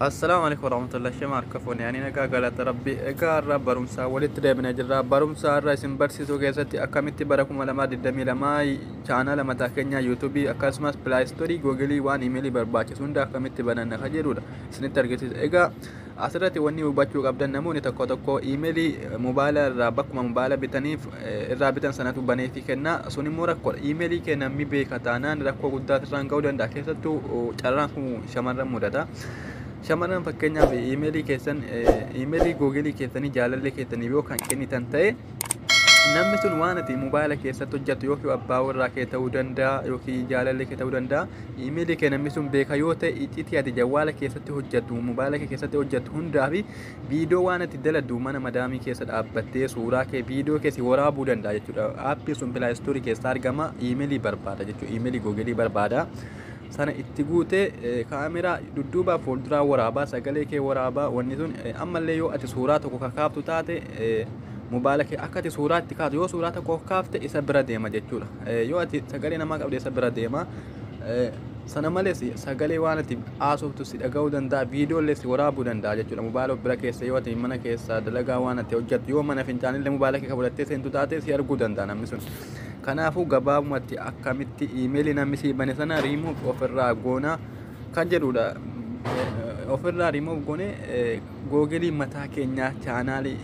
Assalamu alaikum warahmatullahi shema harkafoon yaani nagaa galata rabbi egaa irraa barumsaa walitti deebinee jirra barumsaa irraa isin barsiisuu keessatti akkamitti bara 2022 chaanaala mataa keenyaa yuutuubii akkasumas pilaayistoorii googilii waan imeelii barbaachisu hunda akkamitti bananna ka jedhudha isinitti argisiisa egaa Asirratti wanni hubachuu qabdan namoonni tokko tokko iimeelii mobaayila irraa bakkuma mobaayila bitaniif irraa bitan sanatu baneetii kenna. Sun immoo rakkoodha. Iimeelii kee namni beeka taanaan rakkoo guddaa irraan ga'uu danda'a. Keessattuu carraan kun shamarran mudata. Shamarran fakkeenyaaf iimeelii keessan iimeelii googelii keessanii jaalallee keessaniif yoo kan kennitan ta'e namni sun waan ati mobaayila keessatti hojjattu yookiin abbaa warraa kee ta'uu danda'a yookiin jaalallee kee ta'uu danda'a imeelii kee namni sun beeka yoo ta'e iccitii ati jawwaala keessatti hojjattu mobaayila kee keessatti hojjattu hundaa fi viidiyoo waan ati daladdu mana madaamii keessa dhaabbattee suuraa kee viidiyoo kee si waraabuu danda'a jechuudha aappii sun pilaayistoorii keessaa argama imeelii barbaada jechuudha imeelii googelii barbaada. sana itti guutee kaameraa dudduubaa fuulduraa waraabaa sagalee kee waraabaa wanni sun ammallee yoo ati suuraa tokko ka kaaftu taate mobaala kee akka ati suuraa itti kaatu yoo suuraa tokko kaafte isa bira deema jechuudha yoo ati sagalee namaa qabde isa bira deema sana malees sagalee waan ati haasoftu si dhaga'uu danda'a viidiyoollee si waraabuu danda'a jechuudha mobaala bira keessa yoo ati mana keessa dalagaa waan ati hojjettu yoo mana fincaanillee mobaala kee ka fudhattee seentu taate si arguu danda'a namni sun Kanaafuu gabaabumatti akkamitti iimeelii namni sii bane sana remove ofirraa goona kan jedhudha. Ofirraa remove goone googelii mataa keenyaa chaanaalii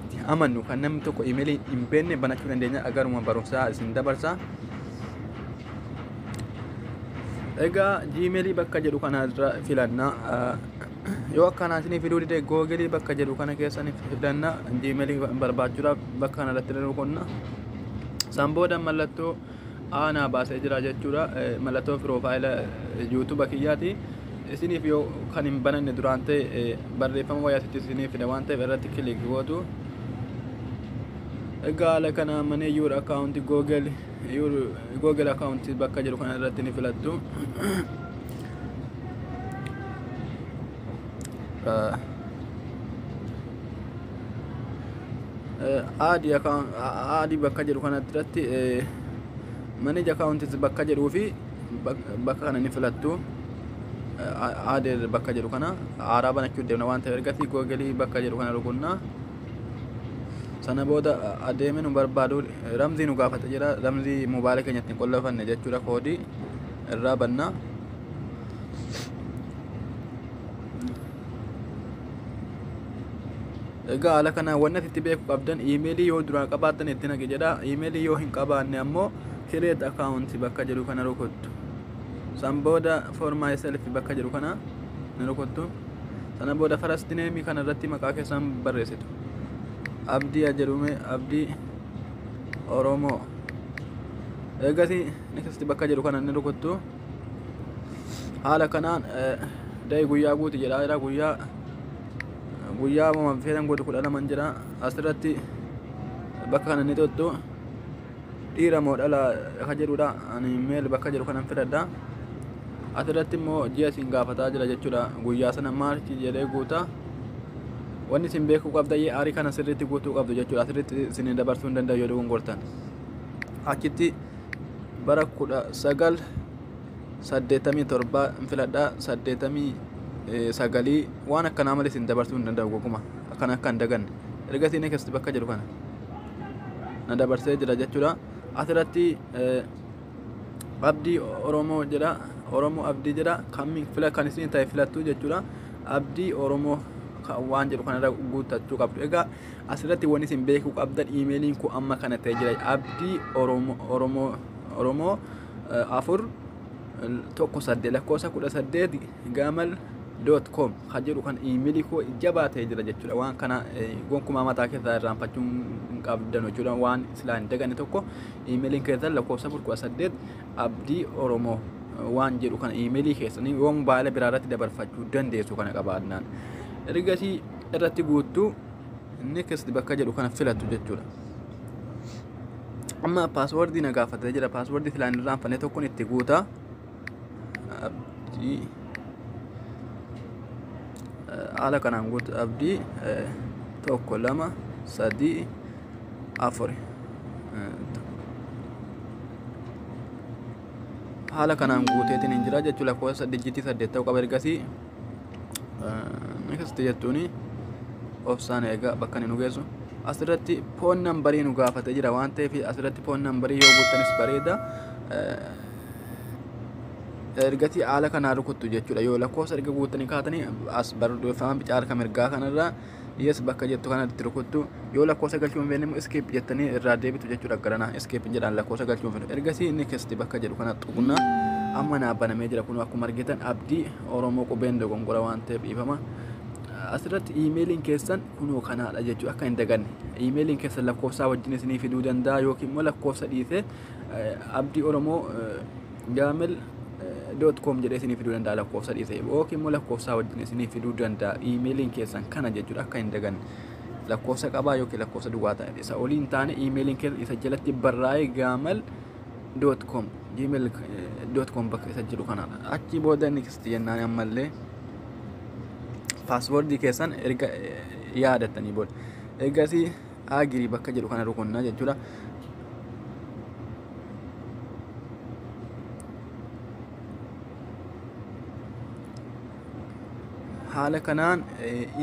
itti amannu kan namni tokko iimeelii hin beekne banachuu dandeenya agaruma barumsaa isin dabarsaa. Egaa jiimeelii bakka jedhu kanarra filannaa. yoo akkanaa isinii fiduu dide googelii bakka jedhu kana keessaniif fidanna jiimelii barbaachuudhaaf bakka kana irratti nu qonna san booda mallattoo aanaa baasee jira jechuudha mallattoo piroofaayila yuutuuba kiyyaati isiniif yoo kan hin bananne duraan ta'e barreeffama wayyaasitti isiniif fida waan ta'eef irratti kilik gootu egaa haala kanaa maneeyyuudha akkaawunti googelii your google account bakka jedhu kana irratti ni filattu uh, aadi account aadi bakka jedhu kana irratti eh, manage account bakka jedhuu fi bak- bakka kana ni filattu aadi bakka jedhu kana haaraa banachuu deemna waan ta'eef ergasii google bakka jedhu kana rukunna sana booda adeeme nu barbaadu ramzii nu gaafata jira ramzii mobaala keenyatti hin qollofanne jechuudha koodii irraa bannaa egaa haala kanaan wanni asitti beeku qabdan iimeelii yoo duraan qabaattan itti naqi jedha iimeelii yoo hin qabaanne ammoo kireet akaawunti bakka jedhu kana rukuttu san booda for myself bakka jedhu kana ni rukuttu sana booda first name kana irratti maqaa keessan barreessitu abdii a jedhume abdii oromoo eegasii next bakka jedhu kana ni rukuttu haala kanaan day guyyaa guuti jedha jira guyyaa guyyaa mama feetan godhu kudha laman jira asirratti bakka kana ni tuttu dhiira moo dhala ka jedhudha ani meel bakka jedhu kanan filadha asirratti immoo ji'a isin gaafataa jira jechuudha guyyaa sana maarchi jedhee guuta wanni isin beekuu qabda yee aarii kana sirriitti guutuu qabdu jechuudha asirratti isin dabarsuu hin danda'u yoo dogongortan achitti bara kudha sagal saddeettamii torbaa hin filadha saddeettamii sagalii waan akkanaa malee isin dabarsuu hin danda'u goguma akkan akka hin daganne erga isin keessatti bakka jedhu kana. na dabarsee jira jechuudha asirratti abdii oromoo jedha oromoo abdii jedha kan fila kan isin ta'e filattu jechuudha abdii oromoo waan jedhu kanarra guuttachuu qabdu egaa asirratti wanni isin beekuu qabdan iimeeliin koo amma kana ta'e jira abdii oromoo oromoo oromoo afur 18 lakkoofsa 18 gaamal doot koom kan jedhu kan iimilii koo jabaa ta'ee jira jechuudha waan kana gonkumaa mataa keessaa irraanfachuu hin qabdan jechuudha waan silaa hin daganne tokko iimiliin keessan lakkoofsa 18 abdii oromoo waan jedhu kana iimilii keessanii yoo mobaayila biraa irratti dabarfachuu dandeessu kana qabaannaan ergasii irratti guuttuu next bakka jedhu kana filattu jechuudha. amma paaswordii na gaafatee jira paaswordii silaan irraa hanfane tokkon itti guuta abdii haala kanaan guutu abdii tokko lama sadii afur haala kanaan guuteetiin hin jira jechuu lakkoofsa dijjitii saddeet ta'u qaba ergasii Next jettuuni obsaan eegaa bakka inni nu geessu. Asirratti foon nambarii nu gaafatee jira waan ta'eef asirratti foon nambarii yoo guuttanis bareeda. Ergatii haala kanaa rukuttu jechuudha. Yoo lakkoofsa erga guuttanii kaatanii as barreeffama bicaa harka mirgaa kanarraa yes bakka jettu kana itti rukuttu yoo lakkoofsa galchuu hin feene immoo escape jettanii irraa deebitu jechuudha garanaa escape hin jedhaan lakkoofsa galchuu hin feene ergasii next bakka jedhu kana tuqna amma naa banamee jira kun akkuma argitan abdii oromoo qubeen dogongora waan ta'eef dhiifama asirratti iimeeliin keessan kunoo kanaadha jechuudha akka hin daganne iimeeliin keessan lakkoofsaa wajjin isinii fiduu danda'a yookiin immoo lakkoofsa dhiisee abdii oromoo Gaamel doot koom jedhee isinii fiduu danda'a lakkoofsa dhiisee yookiin immoo lakkoofsaa wajjin isinii fiduu danda'a iimeeliin keessan kana jechuudha akka hin daganne lakkoofsa qabaa yookiin lakkoofsa duwwaa ta'e isa olii hin taane iimeeliin keessan isa jalatti barraa'ee gaamal doot koom gmail doot koom bakka isa jiru kana achi booda next jennaan ammallee paaswoordii keessan erga yaadattanii booda eegasii agree bakka jedhu kana rukunna jechuudha. haala kanaan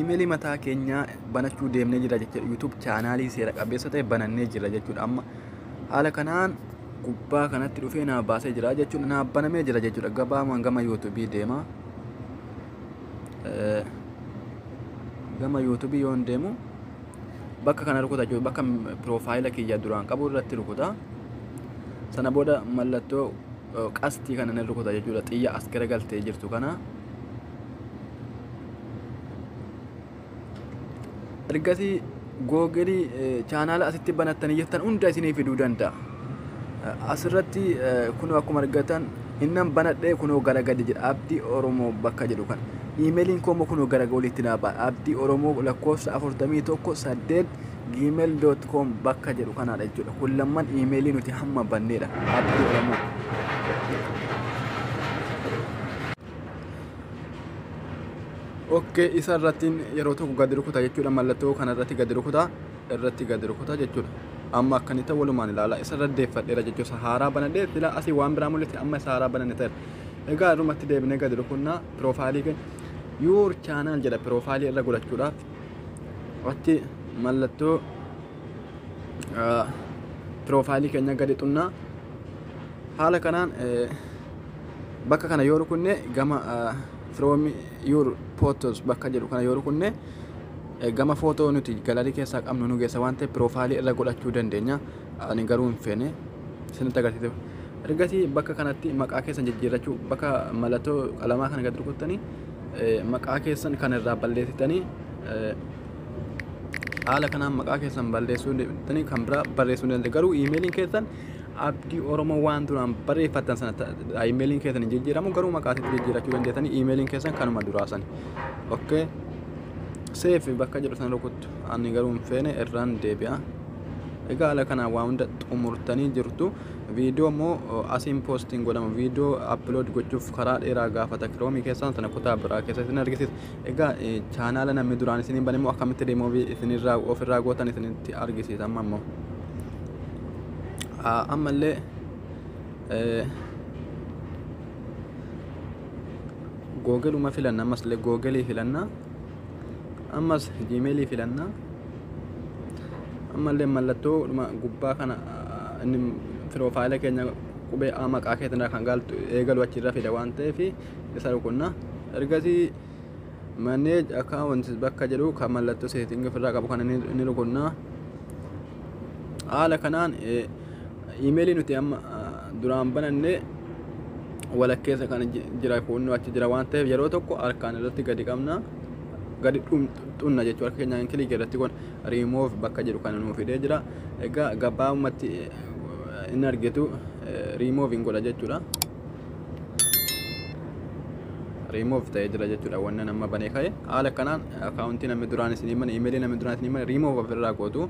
imeelii mataa keenyaa banachuu deemnee jira jechuudha YouTube chaanaalii seera qabeessa ta'e banannee jira jechuudha amma haala kanaan gubbaa kanatti dhufee naa baasee jira jechuudha naa banamee jira jechuudha gabaamaan gama YouTube deema gama YouTube yoon deemu bakka kana rukuta jechuudha bakka piroofaayila kiyya duraan qabu irratti rukuta sana booda mallattoo qastii kana nan rukuta jechuudha xiyya as gara galtee jirtu kana ergasii googilii chaanaala asitti banattanii jirtan hunda isinii fiduu danda'a Asirratti kunoo akkuma argatan innan banadhee kunoo gara gadi jedha abdii oromoo bakka jedhu kan iimeeliin koo immoo kunoo gara oliitti naa ba'a abdii oromoo lakkoofsa 41 8 gmail.com bakka jedhu kanaadha jechuudha kun lamman iimeelii nuti hamma banneedha abdii oromoo ok isa irrattiin yeroo tokko gadi rukuta jechuudha mallattoo kana irratti gadi rukuta irratti gad rukuta jechuudha. Amma akka inni ta'u walumaan ilaala. Isa irra deeffadheera jechuudha. Isa haaraa banadhee silaa asii waan biraa mul'ise amma isa haaraa bananne ta'eera. Egaa irrumatti deebinee gad rukunnaa piroofaayilii keenya yuur chaanaal jedha piroofaayilii irra godhachuudhaaf irratti mallattoo piroofaayilii keenya gadi xunnaa haala kanaan bakka kana yoo rukunne gama firoomi yuur pootos bakka jedhu kana yoo rukunne gama footoo nuti galaarii keessaa qabnu nu geessa waan ta'eef piroofaayilii irra godhachuu dandeenya. Ani garuu hin feene isinitti agarsiisuuf. Ergasii bakka kanatti maqaa keessan jijjiirrachuu bakka mallattoo qalamaa kana gad rukuttanii maqaa keessan kan irraa balleessitanii haala kanaan maqaa keessan balleessuu deebitanii kan biraa barreessuu dandeenya. Garuu iimeeliin keessan abdii oromoo waan duraan barreeffattan sana ta- ta- imeeliin keessan hin jijjiiramu garuu maqaa isaatti jijjiirachuu dandeessanii imeeliin keessan kanuma duraa sani okay seef bakka jedhu sana rukuttu ani garuu hin feene irraan deebi'a egaa ala kanaan waa hunda xumurtanii jirtu viidiyoo immoo o, asiin poostiin godhama viidiyoo aplood gochuuf karaa dheeraa gaafata kiroomii keessaan sana kutaa biraa keessatti hin argisiisa Egaa chaanaala namni duraan isiniin bane immoo akkamitti riimuuvii isinirraa ofirraa gootan isinitti argisiisa amma immoo. Ammallee googeluma filanna ammas illee googelii filanna ammas jiimeelii filanna ammallee mallattoo dhuma gubbaa kana inni firoofaayila keenya qubee A maqaa keetirraa kan gaaltu eegalu achirra fida waan ta'eef isa rukunna ergasii manage accounts bakka jedhu kan mallattoo setting ofirraa qabu kana ni rukunna haala kanaan imeelii nuti amma duraan bananne walakkeessa kana jira kunnoo achi jira waan ta'eef yeroo tokko harkaan irratti gadi qabna gadi xunna jechuu harka keenyaan kilii irratti kun remove bakka jedhu kana nuuf fidee jira egaa gabaabumatti hin argitu remove hin godha jechuudha. remove ta'ee jira jechuudha wanna nama banee ka'e haala kanaan akaawuntii namni duraan isin himan imeelii namni duraan isin himan remove ofirraa gootu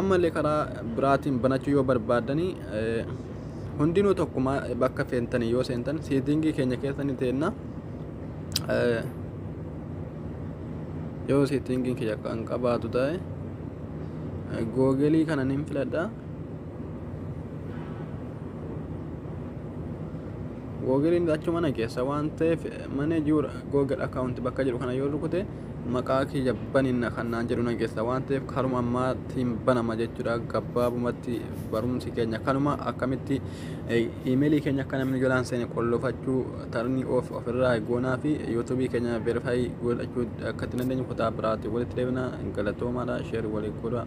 ammallee karaa biraatiin banachuu yoo barbaadanii hundinuu tokkuma bakka feentanii yoo seentan seetingii keenya keessanii teenna yoo seetingiin kiyya kan qabaatu ta'e googelii kanan hin filadha googiliin achi mana keessa waan ta'eef mana jiru googil akkaawunti bakka jedhu kana yoo rukute maqaa kiyya baninna kan naan jedhu nan keessa waan ta'eef karuma ammaatiin banama jechuudha gabaabumatti barumsi keenya kanuma akkamitti iimeelii keenya akka namni jalaan seene qollofachuu tarnii of ofirraa goonaa fi yuutuubii keenya veerifaayii godhachuu akka itti dandeenyu kutaa biraatti walitti deebina galatoomaadha sheer walii godhaa.